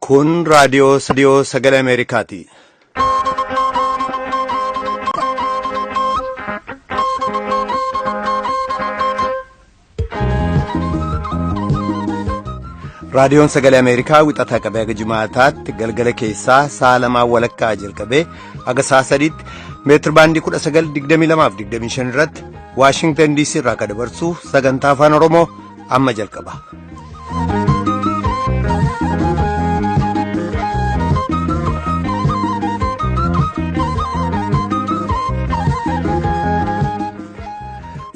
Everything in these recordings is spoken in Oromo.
Kun raadiyoo Sadiyoo Sagalee Ameerikaati. Raadiyoon Sagalee Ameerikaa wixataa qabee haga jimaataatti galgala keessaa sa'a lamaa walakkaa jalqabee haga sa'a sadiitti meetir baandii 1922 fi 25 irratti Waashingtan DC irraa akka dabarsu sagantaa afaan Oromoo amma jalqaba.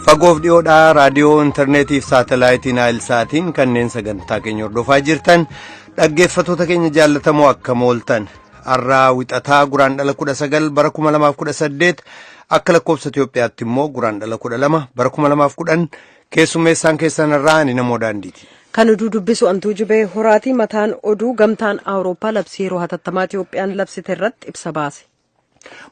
Fagoof dhiyoodhaa raadiyoo intarneetiif saatalaayitiin saatiin kanneen sagantaa keenya hordofaa jirtan dhaggeeffatoota keenya jaallatamoo akka mooltan. har'aa wixataa guraandhala 19 bara 2018 Akka lakkoofsa Itoophiyaatti immoo Guraandhala 12 bara 2010 keessummeessaan keessan irraa ani namoo daandiiti. Kan oduu dubbisu antuu jubee horaatii mataan oduu gamtaan Awurooppaa labsii yeroo hatattamaa Itoophiyaan labsite irratti ibsa baase.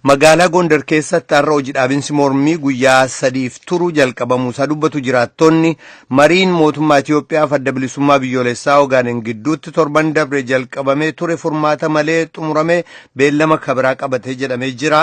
Magaalaa Gondar keessatti har'a hojii dhaabinsi mormii guyyaa sadiif turu jalqabamuu isaa dubbatu jiraattonni mariin mootummaa Itoophiyaaf adda bilisummaa biyyoolessaa Ogaadeen gidduutti torban dabre jalqabamee ture furmaata malee xumuramee beellama kabiraa qabatee jedhamee jira.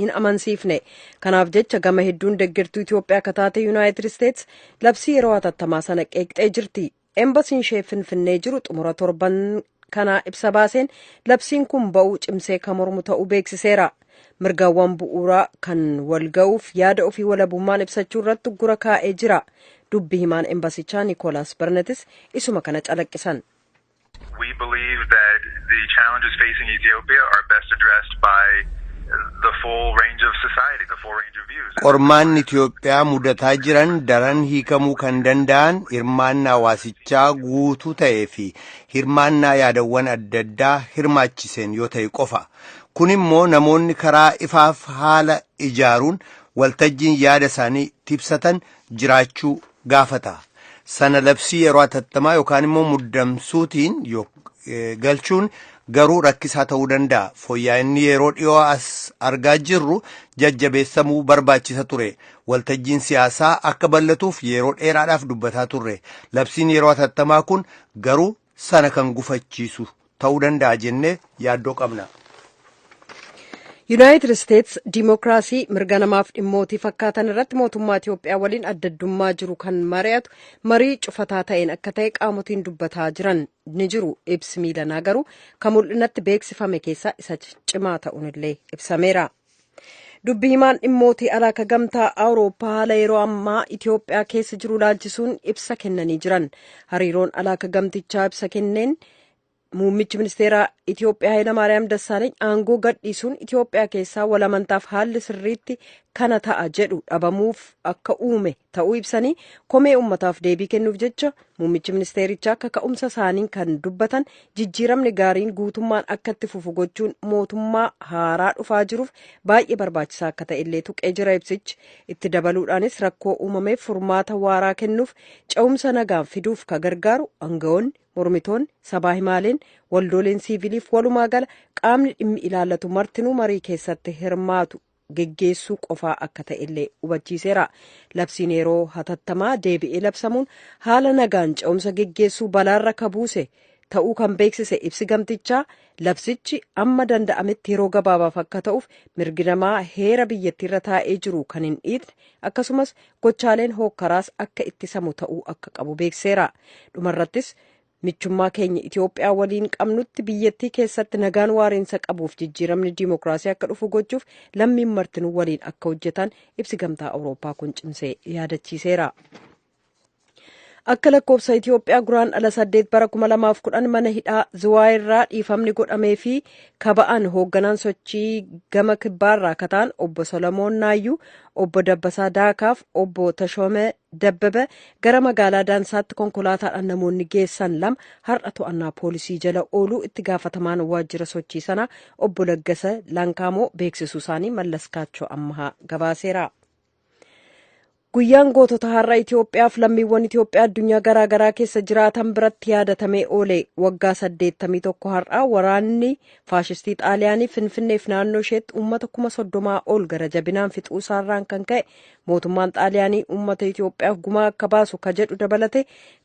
hin amansiifne. Kanaaf jecha gama hedduun deggertuu Itoophiyaa akka taate Yuunaayitid Isteets labsii yeroo hatattamaa sana qeeqxee jirti. Embasiin ishee Finfinnee jiru xumura torban kanaa ibsa baaseen labsiin kun ba'uu cimsee kan mormu ta'uu beeksiseera. Mirgawwan bu'uuraa kan wal ga'uuf yaada ofii walabummaan ibsachuu irratti uggura kaa'ee jira. Dubbi himaan embasichaa Nikoolaas Barnetis isuma kana calaqqisan. We believe that the challenges facing Ethiopia are best addressed by the full range of society, the full range of views. Qormaanni Itoophiyaa mudataa jiran daran hiikamuu kan danda'an hirmaannaa hawaasichaa guutuu ta'ee fi hirmaannaa yaadawwan adda addaa hirmaachiseen yoo ta'e qofa. Kun immoo namoonni karaa ifaaf haala ijaaruun waltajjiin yaada isaanii itti ibsatan jiraachuu gaafata. Sana labsii yeroo atattamaa yookaan immoo muddamsuutiin galchuun garuu rakkisaa ta'uu danda'a. Fooyya'inni yeroo dhiyoo as argaa jirru jajjabeessamuu barbaachisa ture. Waltajjiin siyaasaa akka bal'atuuf yeroo dheeraadhaaf dubbataa turre. Labsiin yeroo atattamaa kun garuu sana kan gufachiisu ta'uu danda'a jennee yaaddoo qabna. Yuunaayitid Isteets diimokiraasii mirga namaaf dhimmootii fakkaatan irratti mootummaa Itoophiyaa waliin adda addummaa jiru kan mari'atu marii cufataa ta'een akka ta'e qaamotiin dubbataa jiran ni jiru. Ibsi miilanaa garuu kan mul'inatti beeksifame keessaa isa cimaa ta'uun illee ibsameera. Dubbi himaan dhimmootii alaa ka gamtaa Awurooppaa haala yeroo ammaa Itoophiyaa keessa jiru ilaalchisuun ibsa kennanii jiran. Hariiroon alaa ka gamtichaa ibsa kenneen muummichi ministeeraa Itoophiyaa Hayilamaariyaam Dassaaleeny aangoo gadhiisuun Itoophiyaa keessaa walamantaaf haalli sirriitti kana ta'a jedhu dhabamuuf akka uume ta'uu ibsanii komee uummataaf deebii kennuuf jecha Muummichi ministeerichaa kaka'umsa isaaniin kan dubbatan jijjiiramni gaariin guutummaan akka itti fufu gochuun mootummaa haaraa dhufaa jiruuf baay'ee barbaachisaa akka ta'e illee tuqee jira ibsichi. Itti dabaluudhaanis rakkoo uumameef furmaata waaraa kennuuf ce'umsa nagaan fiduuf ka gargaaru aangawoonni, mormitoonni, sabaa himaaleen, waldooleen siiviiliif walumaa gala qaamni dhimmi ilaallatu martinuu marii keessatti hirmaatu geggeessuu qofaa akka ta'ellee hubachiiseera. Labsiin yeroo hatattamaa deebi'ee labsamuun haala nagaan ce'umsa geggeessuu balaarra ka buuse ta'uu kan beeksise ibsi gamtichaa labsichi amma danda'ametti yeroo gabaabaaf akka ta'uuf mirgi namaa heera biyyattiirra taa'ee jiru kan hin dhiitne akkasumas gochaaleen hookkaraas akka ittisamu ta'uu akka qabu beekseera. Dhumarrattis Michummaa keenya Itoophiyaa waliin qabnutti biyyattii keessatti nagaan waariinsa qabuuf jijjiiramni diimokiraasii akka dhufu gochuuf lammiin martinuu waliin akka hojjetan ibsi gamtaa Awurooppaa kun cimsee yaadachiiseera. Akka lakkoofsa Itoophiyaa guraan ala saddeet bara kuma lamaaf kudhan mana hidhaa Ziwaay irraa dhiifamni godhamee fi kaba'an hoogganaan sochii gama kibbaa irraa kataan obbo Solomoon Naayyuu, obbo Dabbasaa Daakaaf, obbo Tashoomee Dabbebe gara magaalaa Daansaatti konkolaataadhaan namoonni geessan lama har'a to'annaa poolisii jala ooluu itti gaafatamaan waajjira sochii sanaa obbo Laggasa Lankaamoo beeksisuu isaanii Mallas Kaachoo Ammahaa gabaaseera. Guyyaan gootota har'a Itoophiyaaf lammiiwwan Itoophiyaa addunyaa garaa garaa keessa jiraatan biratti yaadatamee oole waggaa 81 har'a waraanni faashistii Xaaliyaanii Finfinneef naannoo isheetti uummata kuma soddomaa ol gara jabinaan fixuu isaarraan kan ka'e Mootummaan Xaaliyaanii uummata Itoophiyaaf gumaa akka baasu ka jedhu dabalate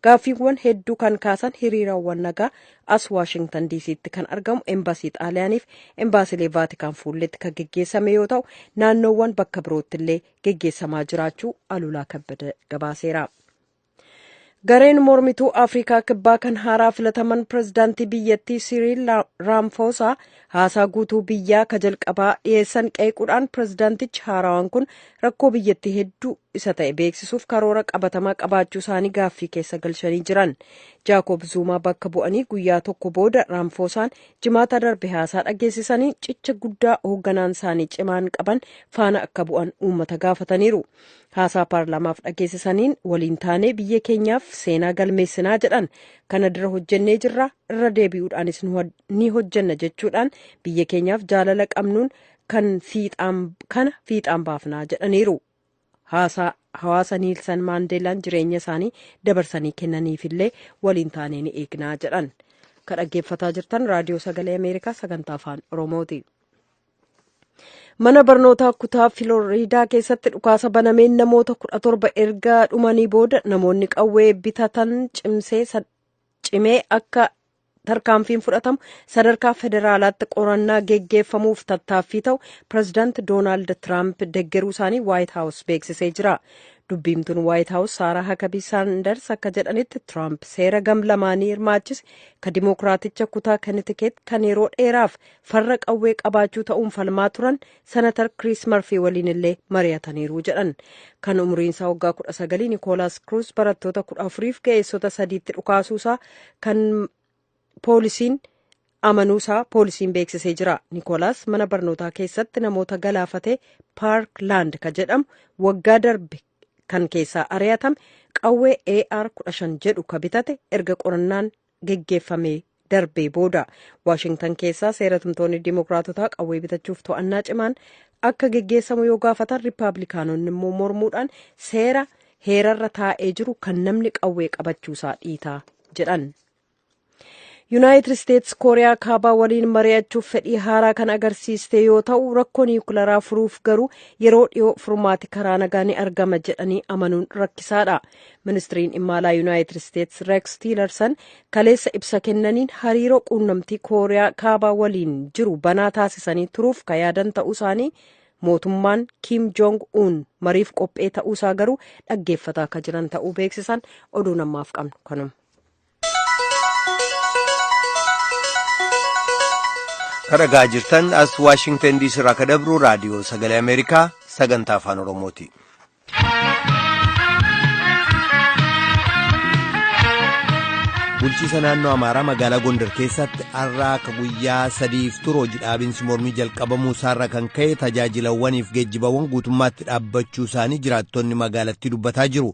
gaaffiiwwan hedduu kan kaasan hiriirawwan nagaa as Waashingtan DC'tti kan argamu embaasii Xaaliyaaniif embaasilee Vaatikaan fuulletti kan geggeessame yoo ta'u naannoowwan bakka biroottillee geggeessamaa jiraachuu Alulaa Kabbada gabaaseera. Gareen mormituu Afrikaa Kibbaa kan haaraa filataman pirezidaantii biyyattii Siriil Raamfoosaa haasaa guutuu biyyaa ka jalqabaa dhiyeessan qeequudhaan pirezidaantichi haarawaan kun rakkoo biyyattii hedduu isa ta'e beeksisuuf karoora qabatamaa qabaachuu isaanii gaaffii keessa galchanii jiran. Jaakoob Zuumaa bakka bu'anii guyyaa tokko booda Raamfoosaan jimaata darbe haasaa dhageessisanii cicha guddaa hoogganaan isaanii cimaan qaban faana akka bu'an uummata gaafataniiru. Haasaa paarlaamaaf dhageessisaniin waliin taanee biyya keenyaaf seenaa galmeessinaa jedhan kana dura hojjennee jirra irra deebi'uudhaanis ni hojjenna jechuudhaan biyya keenyaaf jaalala qabnuun kan fiixaan kana fiixaan baafnaa jedhaniiru. Haasaa hawaasa Niilsan Maandeelaan jireenya isaanii dabarsanii kennaniifillee waliin taanee ni eegnaa jedhan. Kan dhaggeeffataa jirtan raadiyoo sagalee Ameerikaa sagantaa afaan Oromooti. mana barnootaa kutaa filooriidaa keessatti dhukaasa banameen namoota kudha torba erga dhumanii booda namoonni qawwee bitatan cimee akka tarkaanfiin fudhatamu sadarkaa federaalaatti qorannaa geggeeffamuuf tattaaffii ta'u pirezidaanti doonaald tiraamp deggeruu isaanii waayit haawus beeksisee jira dubbiimtuun waayit haawus saaraa hakabii saanders akka jedhanitti tiraamp seera gam lamaanii hirmaachise ka dimookiraaticha kutaa kanitikeet kan yeroo dheeraaf farra qawwee qabaachuu ta'uun falmaa turan senatar kiriis marfii waliin illee mari'ataniiru jedhan kan umriinsaa waggaa kudha sagalii nikoolaas kiruus barattoota kudha afuriif ga'eessota sadiitti dhukaasuusaa kan poolisiin amanuusaa poolisiin beeksisee jira nikoolaas mana barnootaa keessatti namoota galaafate paark laand ka jedhamu waggaa darbe kan keessaa ari'atame qawwee ar 15 jedhu ka bitate erga qorannaan geggeeffamee darbee booda waashingtan keessaa seera tumtoonni diimokiraatotaa qawwee bitachuuf to'annaa cimaan akka geggeessamu yoo gaafatan riippaabilikaanonni immoo mormuudhaan seera heerarra taa'ee jiru kan namni qawwee qabachuusaa dhiitaa jedhan. yuunaayitid isteetsi kooriyaa kaabaa waliin mari'achuuf fedhii haaraa kan agarsiiste yoo ta'u rakkoo niwukilaraa furuuf garuu yeroo dhiyoo furmaati karaa nagaa ni argama jedhanii amanuun rakkisaadha Ministiriin dhimma alaa Yuunaayitid Isteets Reeks Tiilarsan kaleessa ibsa kennaniin hariiroo quunnamtii Kooriyaa kaabaa waliin jiru banaa taasisanii turuuf ka yaadan ta'uu isaanii mootummaan Kiim Joong Uun mariif qophee ta'uu isaa garuu dhaggeeffataa ka jiran ta'uu beeksisan oduun ammaaf qabnu kanuma. Kan dhagaa jirtan as Waashingtan diisii irraa kan dabru raadiyoo sagalee Ameerikaa sagantaa afaan Oromooti. Bulchiisa naannoo Amaaraa magaalaa Gondar keessatti har'a akka guyyaa sadiif turu hojii dhaabinsi mormii jalqabamuu isaarra kan ka'e tajaajilawwaniif geejjibawwan guutummaatti dhaabbachuu isaanii jiraattonni magaalattii dubbataa jiru.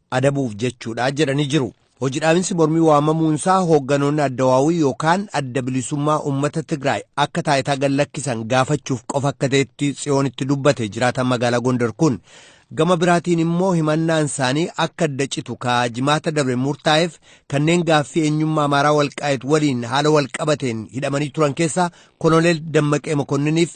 adabuuf jechuudha jedhanii jiru. Hojidhaabinsi mormii waamamuunsaa hoogganoonni addawaawii yookaan adda bilisummaa uummata Tigraay akka taayitaa gad lakkisan gaafachuuf qofa akka ta'etti Tsiyoonitti dubbate jiraataan magaalaa Gondar kun. Gama biraatiin immoo himannaan isaanii akka adda citu kaa jimaata dabre murtaa'eef kanneen gaaffii eenyummaa Amaaraa Walqaayit waliin haala walqabateen hidhamanii turan keessaa Koloneel Dammaqee Makonniniif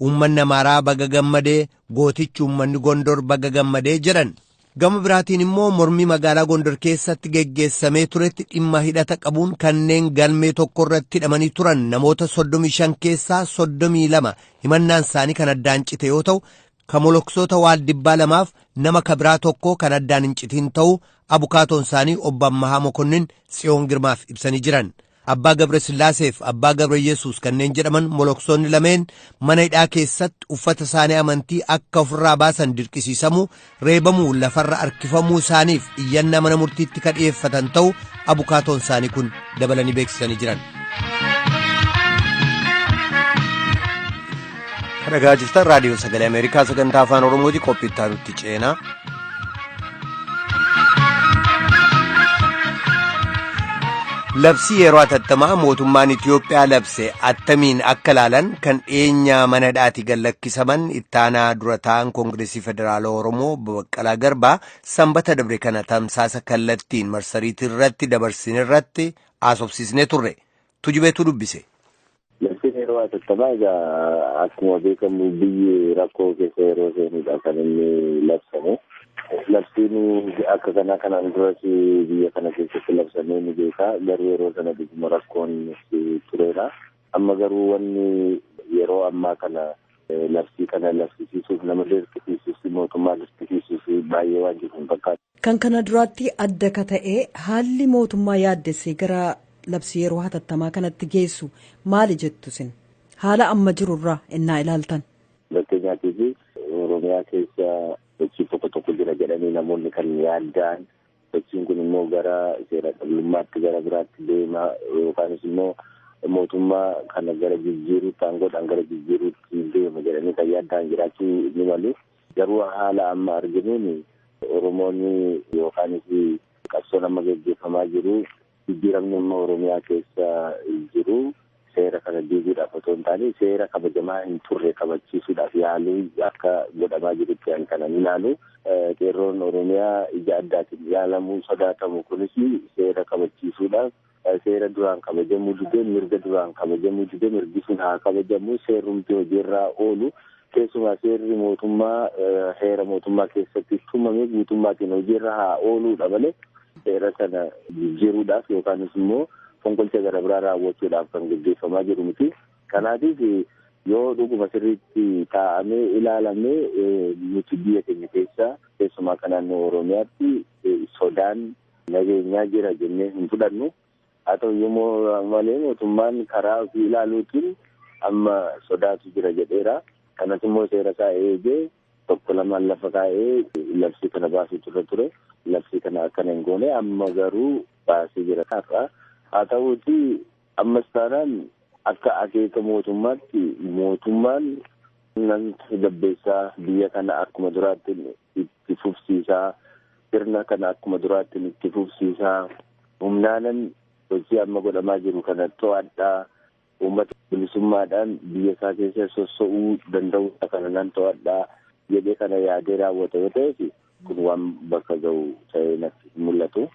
Uummanni Amaaraa baga gammadee gootichi uummanni Gondor baga gammadee jedhan. Gama biraatiin immoo mormii magaalaa Gondor keessatti geggeessamee turetti dhimma hidhata qabuun kanneen galmee tokko irratti hidhamanii turan namoota 35 keessaa 32 himannaan isaanii kan addaan cite yoo ta'u, kan moloksoota waaldibbaa lamaaf nama kabiraa tokko kan addaan hin citiin ta'uu abukaatoon isaanii obbo Ammahaa Mokonnin Tsiyoon Girmaaf ibsanii jiran. Abbaa Gabre Sillaaseef Abbaa Gabre Yesuus kanneen jedhaman moloksoonni lameen mana hidhaa keessatti uffata isaanii amantii akka ofirraa baasan dirqisiisamuu, reebamuu, lafarra harkifamuu isaaniif iyyannaa mana murtiitti ka dhiyeeffatan ta'u abukaatoon isaanii kun dabalanii beeksisanii jiran. Dhagaa jirtan raadiyoo sagalee Ameerikaa sagantaa afaan Oromooti qophii itti aanutti ceenaa. Labsii yeroo atattamaa mootummaan Itiyoophiyaa labse attamiin akka ilaalan kan dhiyeenya mana hidhaati gallakkisaman ittaanaa dura ta'an Koongireesii Federaalaa Oromoo Baqqalaa Garbaa sanbata dabre kana tamsaasa kallattiin marsariitii irratti dabarsine irratti haasofsiisnee turre. Tujubeetu dubbise. Labsiin yeroo hatattamaa egaa akkuma beekamu biyyi rakkoo keessa yeroo seenudha kan inni labsame. Labsiin akka kanaa kanaan duras biyya kana keessatti labsamee ni beeka. Garuu yeroo sana dhuguma rakkoon tureera. Amma garuu wanni yeroo ammaa kana labsii kana labsisiisuuf nama dirqisiisuus mootummaa dirqisiisuus baay'ee waan jiru hin fakkaatu. Kan kana duraattii adda ka ta'e haalli mootummaa yaaddessee gara labsii yeroo hatattamaa kanatti geessu maali jettu isin? Haala amma jiru irraa ennaa ilaaltan. Fakkeenyaatiif Oromiyaa keessa sochiin tokko tokko jira jedhanii namoonni kan yaadda'an sochiin kun immoo gara seera dhablummaatti gara biraatti deema yookaanis immoo mootummaa kana gara jijjiiruutti aangoodhaan gara jijjiiruutti deema jedhanii kan yaadda'an jiraachuu ni malu. Garuu haala amma arginuun Oromoon yookaanis qabsoon amma gaggeeffamaa jiru jijjiiramni amma Oromiyaa keessa jiru seera kana diiguudhaaf otoo hin taane seera kabajamaa hin turre kabachiisuudhaaf yaaluu akka godhamaa jirutti an kanan ilaalu. Qeerroon Oromiyaa ija addaatiin ilaalamuu sodaatamu kunis seera kabachiisuudhaaf Seera duraan kabajamuu dide, mirga duraan kabajamuu dide mirgi sun haa kabajamu. Seerrumti hojiirraa oolu keessumaa seerri mootummaa heera mootummaa keessatti tumame guutummaatiin hojiirra haa ooluudha malee seera sana jijjiiruudhaaf yookaanis immoo fonqolcha gara biraa raawwachuudhaaf kan gaggeeffamaa jiru miti. Kanaatiif yoo dhuguma sirriitti taa'amee ilaalamee nuti biyya keenya keessa keessumaa kan naannoo Oromiyaatti sodaan nageenyaa jira jennee hin fudhannu. Haa ta'u iyyuu malee mootummaan karaa ofii ilaaluutiin amma sodaatu jira jedheera. Kanas immoo seera isaa eegee tokko lamaan lafa kaa'ee labsii kana baasuu turre ture. Labsii kana akkana hin goone amma garuu baasee jira har'a. Haa ta'uuti ammas taanaan akka akeeka mootummaatti mootummaan nan tasgabbeessaa biyya kana akkuma duraatti itti fufsiisaa sirna kana akkuma duraattiin itti fufsiisaa humnaanan sochii amma godhamaa jiru kana to'adhaa uummata bilisummaadhaan biyya isaa keessa sosso'uu danda'uu kana nan to'adhaa jedhee kana yaadee raawwata yoo ta'eef kun waan bakka ga'u ta'ee natti hin mul'atu.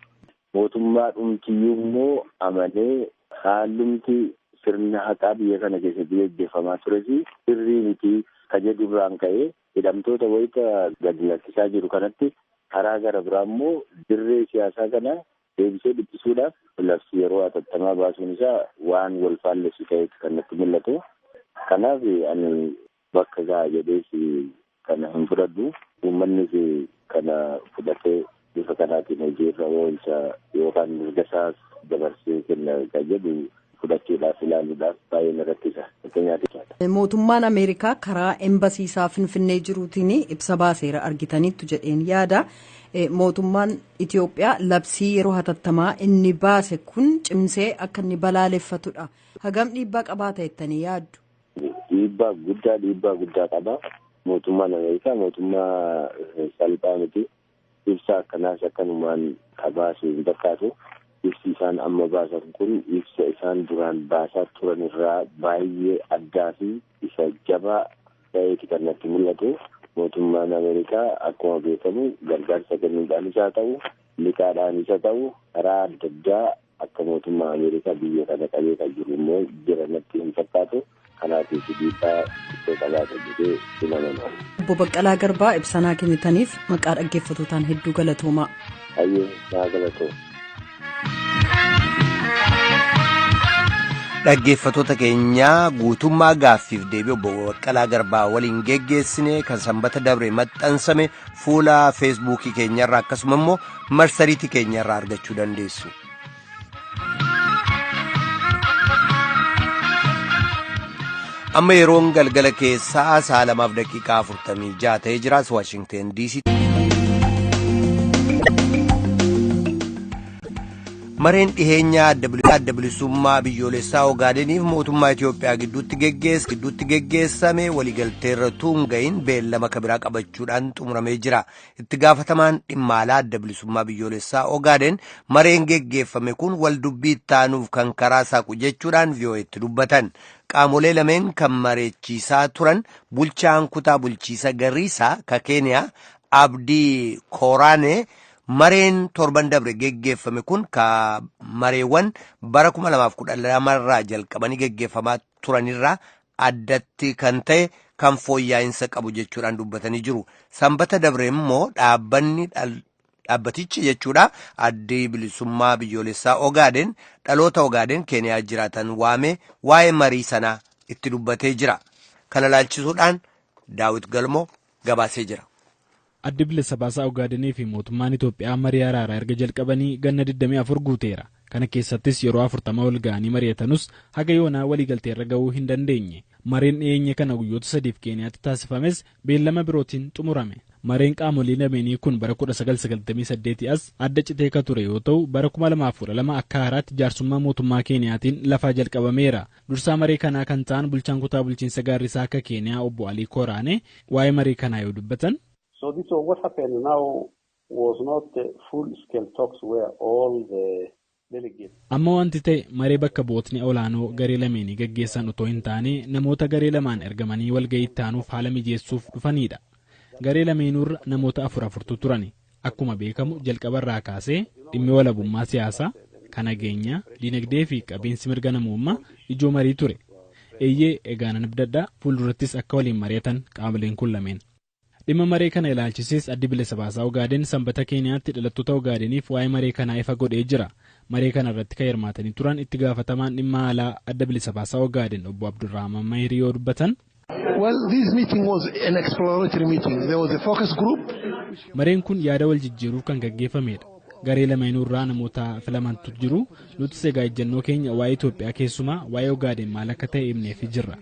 Mootummaa dhumtiyyuu immoo amanee haalumti sirna haqaa biyya kana keessatti gaggeeffamaa tures sirrii miti ka jedhurraan ka'ee hidhamtoota wayita gadi lakkisaa jiru kanatti karaa gara biraa immoo dirree siyaasaa kana deebisee dhiphisuudhaaf labsii yeroo hatattamaa baasuun isaa waan wal faallessu ta'eetu kan natti mul'atu. Kanaaf ani bakka ga'a jedhees kana hin fudhadhu. Uummannis kana fudhatee bifa kanaatiin hojiirra oolcha yookaan mirgasaas dabarsee kenna kan jedhu fudhachuudhaaf ilaaluudhaaf baay'ee na rakkisa. Fakkeenyaaf. Mootummaan Ameerikaa karaa embasii isaa Finfinnee jiruutiin ibsa baaseera argitaniittu jedheen yaada. Mootummaan Itoophiyaa labsii yeroo hatattamaa inni baase kun cimsee akka inni balaaleffatudha. Hagam dhiibbaa qabaata jettanii yaaddu? Dhiibbaa guddaa dhiibbaa guddaa qaba. Mootummaan Ameerikaa mootummaa salphaa miti. Ibsa akkanaas akkanumaan ka baasu hin fakkaatu. Ibsi isaan amma baasan kun ibsa isaan duraan baasaa turan irraa baayyee addaa fi isa jabaa ta'eeti kan natti mul'atu. Mootummaan Ameerikaa akkuma beekamu gargaarsa kennuudhaanis haa ta'u, liqaadhaanis haa ta'u karaa adda addaa akka mootummaa Ameerikaa biyya kana qabee kan jiru immoo jira natti hin fakkaatu. kanaatiif dhiibbaa guddoo qabaata jedhee hin amanu. Obbo Baqqalaa Garbaa ibsa naa kennitaniif maqaa dhaggeeffatootaan hedduu galatoomaa. Hayyee naa galatooma. Dhaggeeffatoota keenyaa guutummaa gaaffiif deebii obbo Baqqalaa Garbaa waliin geggeessine kan sanbata dabre maxxansame fuula feesbuukii keenyarraa akkasuma immoo marsariitii keenyarraa argachuu dandeessu. amma yeroon galgala keessaa sa'a lamaaf daqiiqaa afurtamii ja'a ta'ee jiraas waashingteen diisii. mareen dhiheenyaa adda bilisummaa biyyoolessaa ogaadeniif mootummaa itiyoophiyaa gidduutti geggeessame waliigalteerra tuunga'iin beellama kabiraa qabachuudhaan xumuramee jira Itti gaafatamaan dhimma alaa adda bilisummaa biyyoolessaa Ogaadeen mareen geggeeffame kun wal dubbii itti aanuuf kan karaa saaqu jechuudhaan VOA'tti dubbatan. Qaamolee lameen kan mareechiisaa turan bulchaan kutaa bulchiisa Gariisaa ka Keeniyaa Abdii Kooraanee mareen torban dabre geggeeffame kun ka mareewwan bara 2012 irraa jalqabanii geggeeffamaa turanirraa addatti kan ta'e kan fooyyaa'insa qabu jechuudhaan dubbatanii jiru. Sanbata dabre immoo dhaabbanni dhaabbatichi jechuudha addi bilisummaa biyyoolessaa Ogaadeen dhaloota Ogaadeen Keeniyaa jiraatan waamee waa'ee marii sanaa itti dubbatee jira. Kana laalchisuudhaan Daawit Galmoo gabaasee jira. Addi Bilisa Baasaa Ogaadenii fi mootummaan Itoophiyaa marii araaraa erga jalqabanii ganna 24 guuteera. Kana keessattis yeroo 40 wal ga'anii mari'atanus haga yoonaa waliigalteerra ga'uu hin dandeenye. Mareen dhiyeenya kana guyyoota sadiif Keeniyaatti taasifames beellama birootiin xumurame. Mareen qaamolee lameenii kun bara 1998 as adda citee ka ture yoo ta'u, bara 2012 akka haaraatti jaarsummaa mootummaa Keeniyaatiin lafaa jalqabameera. Dursaa maree kanaa kan ta'an bulchaan kutaa bulchiinsa Gaarrisaa akka Keeniyaa obbo Alii Kooraanee waa'ee maree kanaa yoo dubbatan. So this was what happened now was not the full scale talks where all the delegates. Amma wanti ta'e maree bakka bu'ootni olaanoo garee lameenii gaggeessan otoo hin taane namoota garee lamaan ergamanii walga'ii itti aanuuf haala mijeessuuf dhufaniidha. Garee lameenuurra namoota afur afurtu turani. Akkuma beekamu jalqaba irraa kaasee dhimmi walabummaa siyaasaa, ka nageenyaa, dinagdee fi qabiinsi mirga namoommaa ijoo marii ture. Eeyyee, egaa nan abdadha fuuldurattis akka waliin mari'atan qaamoleen kun lameen. Dhimma maree kana ilaalchisees Addi Bilisa Baasaa Ogaaden Sanbata Keeniyaatti dhalattoota Ogaadeniif waa'ee maree kanaa ifa godhee jira. Maree kana irratti kan hirmaatanii turan itti gaafatamaan dhimma alaa Adda Bilisa Baasaa Ogaaden obbo Abdurrahman Mahiri yoo dubbatan, Well, this meeting was an exploratory meeting. There was a focus group. Mareen kun yaada wal jijjiiruuf kan gaggeeffamedha. Garee lameenuu irraa namoota filamantu jiru. Nutis egaa ejjennoo keenya waa'ee Itoophiyaa keessumaa waa'ee Ogaadeen maal akka ta'e himneefi jirra.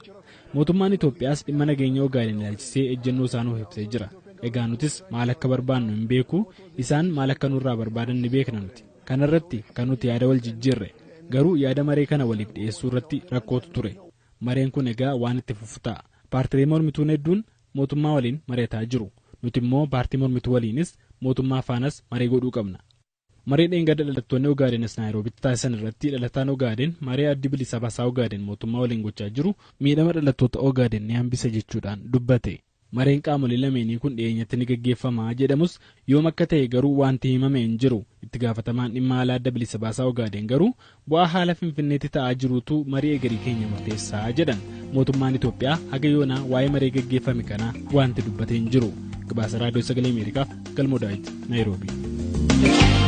Mootummaan Itoophiyaas dhimma nageenya Ogaadeen ilaalchisee ejjennoo isaa nuuf ibsee jira. Egaa nutis maal akka barbaannu hin beeku, isaan maal akka nurraa barbaadan ni beekna nuti. Kanarratti kan nuti yaada wal jijjiirre. Garuu yaada maree kana waliif dhiyeessuu irratti rakkootu ture. Mareen kun egaa waan itti fufu ta'a. Paartilee mormituun hedduun mootummaa waliin mari'ataa jiru. Nuti immoo paartii mormituu waliinis, mootummaa faanas marii godhuu qabna. Marii dheengadda dhalattoonni Ogaadenis Naayiroobitti taasisan irratti dhalataan Ogaaden maree Addi Bilisa Basaa Ogaaden mootummaa waliin gochaa jiru miidhama dhalattoota Ogaaden ni hambisa jechuudhaan dubbate. Mareen qaamolee lameenii kun dhiyeenyatti ni gaggeeffama jedhamus yoom akka ta'e garuu waanti himame hin jiru. Itti gaafatamaan dhimma alaa Adda Bilisa Baasaa Ogaadeen garuu bu'aa haala Finfinneetti ta'aa jiruutu marii egerii keenya murteessa jedhan. Mootummaan Itoophiyaa haga yoonaa waa'ee maree gaggeeffame kanaa waanti dubbate hin jiru. Gabaasa Raadiyoo Sagalee Ameerikaaf Galmoo Daawit Naayiroobii.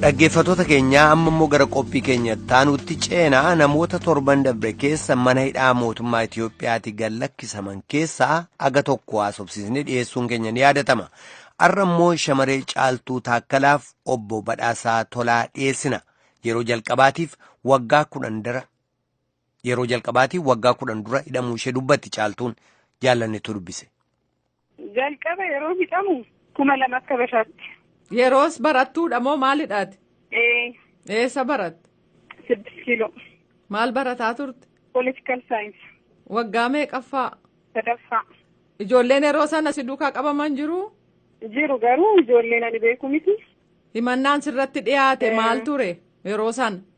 Dhaggeeffattoota keenyaa amma immoo gara qophii keenya taanuutti ceenaa namoota torban dabre keessa mana hidhaa mootummaa Itoophiyaatti gad lakkisaman keessaa aga tokko haasofsiisnee dhiyeessuun keenya ni yaadatama. Har'a immoo shamaree caaltuu taakkalaaf obbo Badhaasaa Tolaa dhiyeessina. Yeroo jalqabaatiif waggaa kudhan dura Yeroo jalqabaatiin waggaa kudhan dura hidhamuu ishee dubbatti caaltuun jaallannetu dubbise. Jalqaba yeroo hidhamu kuma lama akka bashaatti. Yeroos barattuudha moo maalidhaati? Ee. Eessa baratte? Siddis kiiloo. Maal barataa turte? Politikal saayinsi. Waggaa meeqaffaa? Sadaffaa. Ijoolleen yeroo sana si duukaa qabaman jiru? Jiru garuu ijoolleen ani beeku miti. Himannaan sirratti dhiyaate maal ture yeroo sana?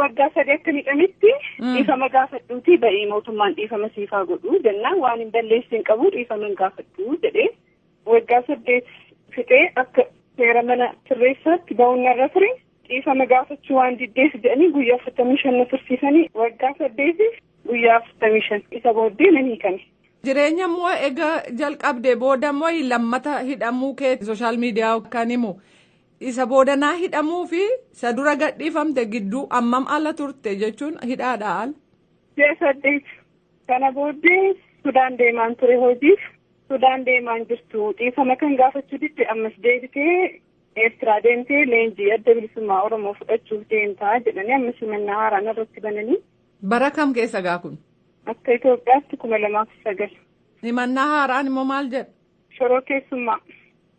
Waggaa sadii akka miidhametti dhiifama gaafadhuutii ba'ii mootummaan dhiifama siif haa godhu jennaan waan hin balleessi hin qabu dhiifama hin gaafadhu jedhee waggaa saddeet fixee akka seera mana sirreessaatti ba'uun narra ture dhiifama gaafachuu waan diddeef jedhanii guyyaa afurtamii shan na tursiisanii waggaa saddeetiif guyyaa afurtamii shan isa booddee nan hiikame. Jireenya immoo egaa jalqabde booda immoo lammata hidhamuu kee sooshaal miidiyaa kan himu Isa boodanaa hidhamuu fi isa dura gadhiifamte gidduu ammam ala turte jechuun hidhaadha ala. Ji'a saddeet kana booddee Sudaan deemaan ture hojiif Sudaan deemaan jirtu dhiifama kan gaafachuu didde ammas deebitee Eertiraa deemtee leenjii adda bilisummaa Oromoo fudhachuuf deemtaa jedhanii ammas himannaa haaraan irratti bananii. Bara kam keessa gaa kun? Akka Itoophiyaatti kuma lamaaf sagal. Himannaa haaraan immoo maal jedha? Shororkeessummaa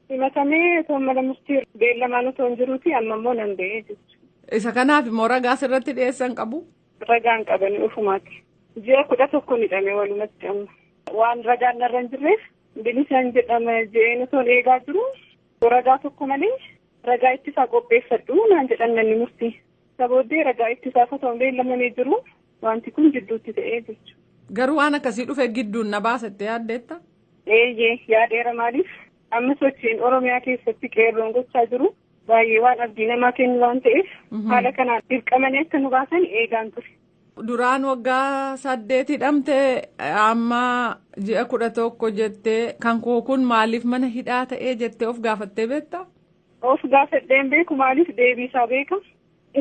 himatamee otoo mana murtii beellamaan otoo hin jiruuti amma immoo nan ba'ee jechuudha. Isa kanaaf immoo ragaa sirratti dhiyeessan qabu. Ragaan qabanii ofumaati. Ji'a kudha tokko hidhame walumatti amma. Waan ragaan narra hin jirreef bilisaan jedhama je'een otoo eegaa jiru ragaa tokko malee ragaa ittisaa qopheeffadhu naan jedhan manni murtii. Isa booddee ragaa itti gaafatamu beellamanii jiru. Wanti kun jidduutti ta'ee jechuudha. Garuu waan akkasii dhufe gidduun na baasa itti yaaddeetta? Eeyyee yaadeera maaliif amma sochiin Oromiyaa keessatti qeerroon gochaa jiru baay'ee waan abdii namaa kennu waan ta'eef haala kanaan dirqamanii akka nu baasan eegaan ture. Duraan waggaa saddeet hidhamte amma ji'a kudha tokko jettee kan koo kun maaliif mana hidhaa ta'ee jettee of gaafattee beektaa? Of gaafadhee hin beeku maaliif deebii isaa beeka.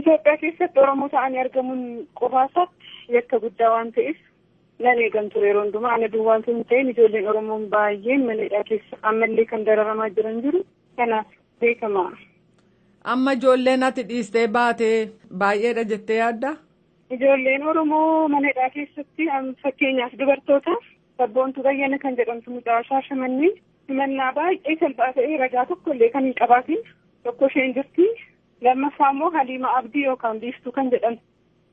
Itoophiyaa keessatti Oromoo ta'anii argamuun qofaa isaatti yakka guddaa waan ta'eef nan eegan ture yeroo hundumaa ana duwwaa osoo hin ta'in ijoolleen Oromoon baay'een mana hidhaa keessa ammallee kan dararamaa jiran jiru kanaaf beekama. Amma ijoolleen ati dhiistee baate baay'eedha jettee yaadda? Ijoolleen Oromoo mana hidhaa keessatti fakkeenyaaf dubartoota Sabboontuu Bayyana kan jedhamtu mucaa Shaashamannee himannaa baay'ee salphaa ta'ee ragaa tokko illee kan hin qabaatin tokko isheen jirti. Lammaffaa immoo Haliima Abdii yookaan Biiftuu kan jedhamtu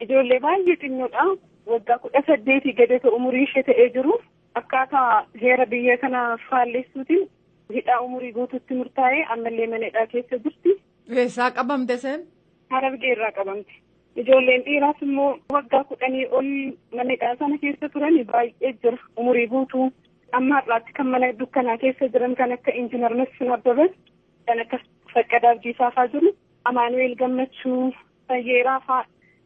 ijoollee baay'ee xinnoodha. Waggaa kudha saddeetii gadi osoo umurii ishee ta'ee jiru akkaataa heera biyya kana faallessuutiin hidhaa umurii guutuutti murtaa'ee ammallee mana hidhaa keessa jirti. Eessaa qabamte seen? Harargee irraa qabamte. Ijoolleen dhiiraas immoo waggaa kudhanii ol mana hidhaa sana keessa turan baay'ee jira umurii guutuu. Amma har'aatti kan mana dukkanaa keessa jiran kan akka Injiinar Masfin Abbabaa kan akka Faqqadaa Abdiisaa fa'aa jiru. Amaanu'eel Gammachuu, Fayyeeraa fa'aa,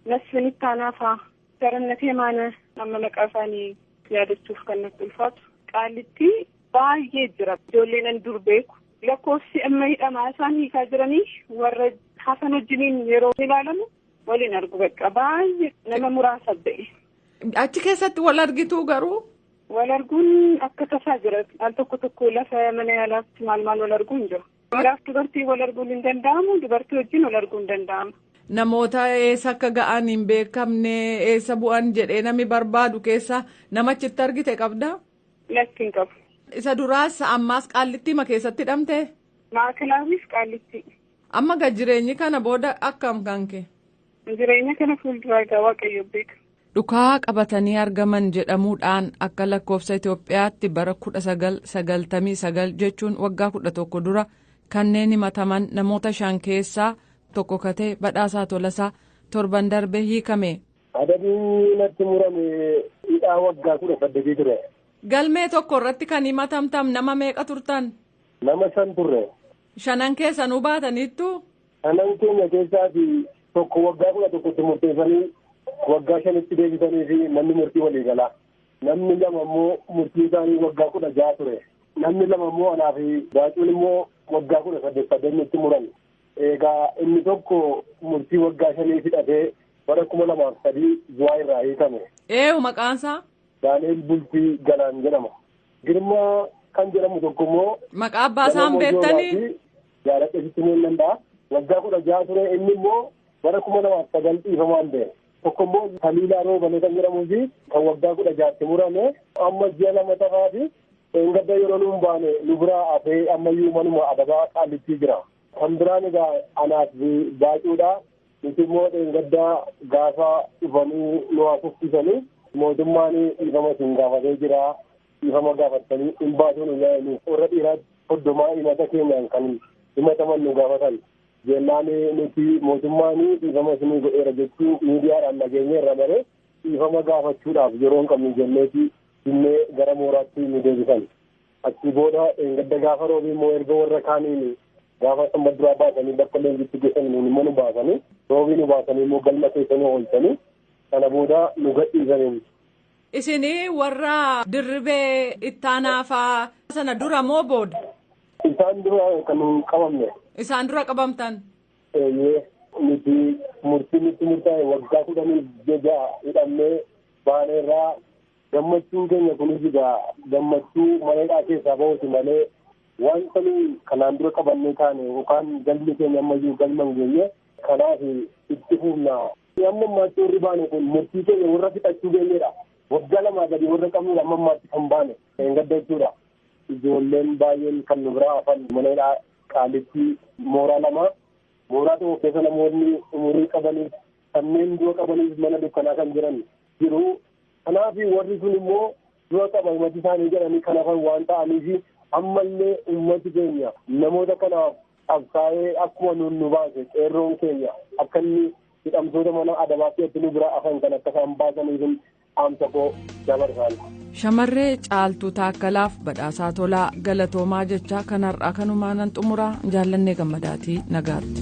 Masfin Ittaanaa fa'aa, Garannatee Maana amma maqaa isaanii yaadachuuf kan natti ulfaatu. Qaalitti baay'ee jira ijoolleen an dur beeku. Lakkoofsi amma hidhamaa isaan hiikaa jiranii warra hafan wajjiniin yeroo ilaalamu waliin argu bakka baay'ee nama muraasa ta'e. Achi keessatti wal argituu garuu. Wal arguun akka tasaa jira. Al tokko tokko lafa mana yaalaatti maal maal wal arguu hin jiru. Dhiiraaf dubartii wal arguun hin danda'amu dubartii wajjin wal arguun hin danda'amu. Namoota eessa akka ga'an hin beekamne eessa bu'an jedhee namni barbaadu keessa namachitti argite qabdaa? Lakki hin qabu. Isa duraas ammaas qaallittiima keessatti hidhamtee? Maakalaawwiif qaallitti. Amma ga jireenyi kana booda akkam kanke? Jireenya kana fuulduraa egaa waaqayyo beeka. Dhukaa qabatanii argaman jedhamuudhaan akka lakkoofsa Itoophiyaatti bara 1999 jechuun waggaa 11 dura kanneen himataman namoota shan keessaa tokko katee badhaasaa tolasaa torban darbe hiikame. Adabni natti murame hidhaa waggaa kudha saddeetii ture. Galmee tokko irratti kan himatamtan nama meeqa turtan? Nama shan turre. Shanan keessanuu baataniittu? Shanan keenya keessaati tokko waggaa kudha tokkotti murteessanii waggaa shanitti deebisanii fi manni murtii walii galaa. Namni lama immoo murtii isaanii waggaa kudha ja'a ture. Namni lama immoo anaa fi baacuun immoo waggaa kudha saddeet saddeetnitti muran. Egaa inni tokko murtii waggaa shanii hidhatee bara kuma lamaaf sadii zuwaa irraa hiikame. Eeyu maqaansaa? Daani'el Bultii Galaan jedhama. Girmaa kan jedhamu tokko immoo. Maqaa abbaa isaa hin beektanii? Jaaladhe sitti himuu hin danda'a. Waggaa kudha jaha ture inni immoo bara kuma lamaaf sagal dhiifamaan ba'e. Tokko immoo Taliilaa Roobalee kan jedhamuu fi kan waggaa kudha jahatti murame amma ji'a lama tafaa fi Dheengadda yeroo nuun baane nu biraa hafee ammayyuu manuma adabaa qaallittii jira. Kan biraan egaa anaaf baacuudha. Nuti immoo dheengadda gaafa dhufanii nu haasofsiisanii mootummaan dhiifama isin gaafatee jira. Dhiifama gaafattanii hin baasuu nu jedhanii warra dhiiraatti hoddomaa himata keenyaan kan himataman nu gaafatan. Jennaan nuti mootummaan dhiifama isinii godheera jechuu miidiyaadhaan dhageenyeerra malee dhiifama gaafachuudhaaf yeroo hin qabnu jenneeti Dinnee gara mooraatti nu deebisan. Achii booda dheengadda gaafa roobii immoo erga warra kaaniin gaafa sanbata duraa baasanii bakka leenjitti geessan nuun immoo nu baasanii roobii nu baasanii immoo galma keessa nu oolchanii sana booda nu gadhiisaniin. Isin warra dirribee ittaanaafaa sana dura moo booda? Isaan dura kan nuun qabamne. Isaan dura qabamtan? Eeyyee nuti murtii nutti murtaa'e waggaa kudhanii ja'a hidhamnee Baaleerraa gammachuun keenya kunis egaa gammachuu maneedhaa keessaa bahuuti malee wanta nuyi kanaan dura qabannee taane yookaan galmi keenya ammayyuu galma hin geenye kanaaf itti fufna. Amma ammaatti warri baane kun murtii keenya warra fixachuu geenyedha. Waggaa lamaa gadi warra qabnudha amma ammaatti kan baane hin gadda jechuudha. Ijoolleen baay'een kan nu biraa hafan maneedhaa qaalitti mooraa lama mooraa tokko keessa namoonni umurii qabaniif Kanneen du'a qabanis mana dukkanaa kan jiran jiru. Kanaaf warri sun immoo du'a qaba mati isaanii jedhanii kan hafan waan ta'aniif ammallee ummati keenya namoota kanaaf qabsaa'ee akkuma nuun nu baase qeerroon keenya akka inni hidhamtoota mana adabaa keessatti nu biraa hafan kan akka isaan baasaniif dhaamsa koo dabarsaan. Shamarree Caaltuu Taakkalaaf badhaasaa tolaa galatoomaa jechaa kan har'aa kanumaa nan xumuraa jaallannee gammadaatii nagaatti.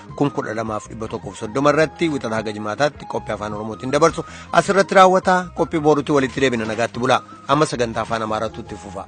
kun 12130 irratti wixata haga jimaataatti qophii afaan oromootiin dabarsu asirratti raawwata qophii boorutti walitti deebina nagaatti bulaa amma sagantaa afaan amaaraatu itti fufa.